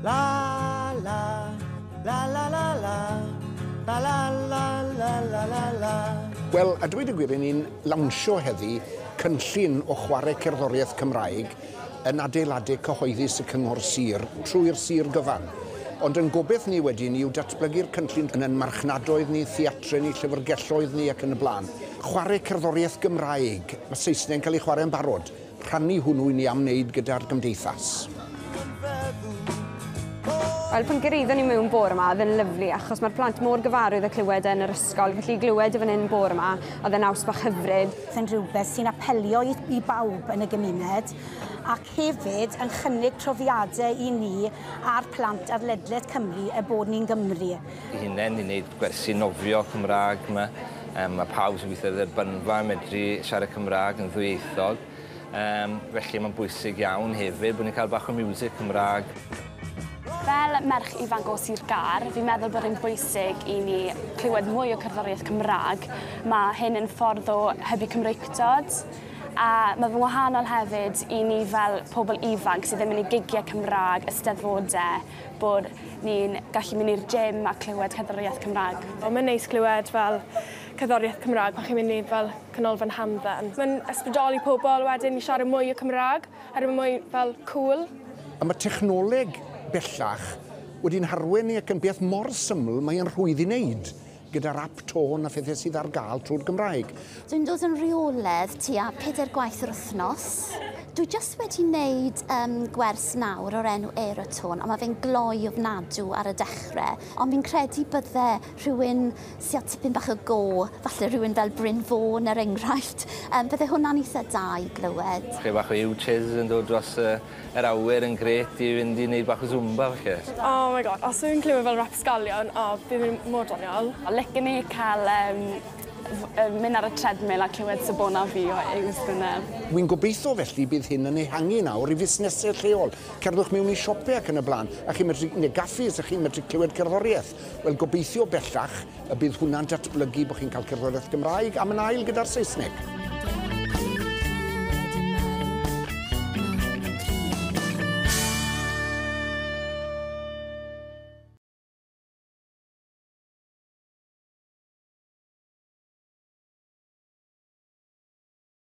La la, la la la la, la la la la la la la. Wel, a dweud y gwir, yn ni'n lawnsio heddi cynllun o chwarae cerddoriaeth Cymraeg yn adeiladu cyhoeddus y Cyngor Sir trwy'r Sir gyfan. Ond yn gobeith ni wedi ni yw datblygu'r cynllun yn yn marchnadoedd ni, theatre ni, llyfrgelloedd ni ac yn y blaen. Chwarae cerddoriaeth Gymraeg, mae Saesneg yn cael ei chwarae yn barod. rhannu hwnnw i ni am wneud gyda'r gymdeithas. Wel pan gyraeddon ni mewn bore ma oedd e'n lyfli achos mae'r plant mor gyfarwydd â clywed e yn yr ysgol felly i glywed e fan hyn bore ma oedd e'n naws bach hyfryd. Yn rhywbeth sy'n apelio i, i bawb yn y gymuned ac hefyd yn chynnig profiadau i ni a'r plant ar ledled Cymru er bod ni'n Gymru. ei hunain i wneud gwersi nofio Cymraeg 'ma. Yym ma' pawb sy'n gweithio ar y Bynfa yn medru siarad Cymraeg yn ddwyieithog. Yym felly mae'n bwysig iawn hefyd bod ni'n cael bach o miwsig Cymraeg. Fel merch ifanc o Sir Gâr, fi'n meddwl bod e'n bwysig i ni clywed mwy o cerddoriaeth Cymraeg. Mae hyn yn ffordd o hybu Cymreictod, a mae fe'n wahanol hefyd i ni fel pobl ifanc sydd ddim yn mynd i gigiau Cymraeg, Eisteddfodau, bod ni'n gallu mynd i'r gym a clywed cerddoriaeth Cymraeg. O, mae'n neis clywed fel cerddoriaeth Cymraeg pan chi'n mynd i fel canolfan hamdden. Mae'n ysbrydoli pobl wedyn i siarad mwy o Cymraeg, oherwydd mae'n mwy fel cŵl. A mae technoleg bellach wedi'n harwain ni ac yn beth mor syml mae e'n rhwydd i wneud. gyda'r ap tôn a phethau sydd ar gael trwy'r Gymraeg. Dwi'n dod yn rheoledd tua pedair gwaith yr wythnos. Dwi jyst wedi wneud um, gwers nawr o'r enw Aerotone, ond mae fe'n gloi ofnadw ar y dechrau. Ond fi'n credu bydde rhywun sy'n â tipyn bach o go, falle rhywun fel Bryn Fôn er enghraifft, um, bydde hwnna'n eitha da i glywed. Chydig bach o U-Chiz yn dod dros y Yr awyr yn grêt i fynd i neud bach o Zumba falle. Oh my God, os fi'n clywed fel rapsgalion, o, bydd fi'n mor doniol. Licen i cael yym f- yy mynd ar y treadmill a clywed Sabona Fi o Ews Gwynedd. Wi'n gobeitho felly bydd hyn yn ehangu nawr i fusnesau lleol. Cerddwch mewn i siope ac yn y blaen a chi'n medru, neu gaffis, a chi'n medru clywed cerddoriaeth. Wel, gobeithio bellach y bydd hwnna'n datblygu, bod chi'n cael cerddoriaeth Gymraeg am yn ail gyda'r Saesneg.